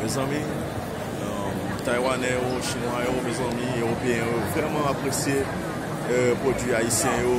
Mezanmi Taiwanè yo, Chinwa yo, mezanmi Ewopeyen yo vreman apresye pwodwi Ayisyen yo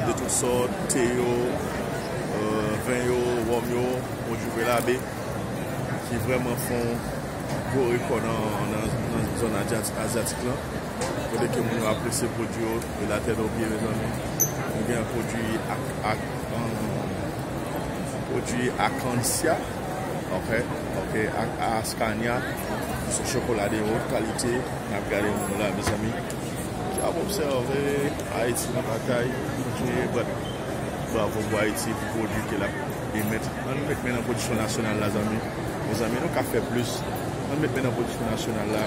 de tout sòt, te yo, ven yo, wòm yo, pwodwi Velabe ki vreman fon gwo rekò nan zòn azyatik lan. kote ke moun yo apresye pwodui yo e la tè dò byen redonnen. Nou gen pwodui ak pwodui akansya ok ok ak askanya sou chokola de wot kalite nap gade moun la mezanmi ki ap obsève Ayiti nan batay kontinye bat bravo pou Ayiti pou pwodui ke lap emèt an nou met men nan pwodiksyon nasyonal la zanmi mezanmi nou ka fè plis an nou met men nan pwodiksyon nasyonal la.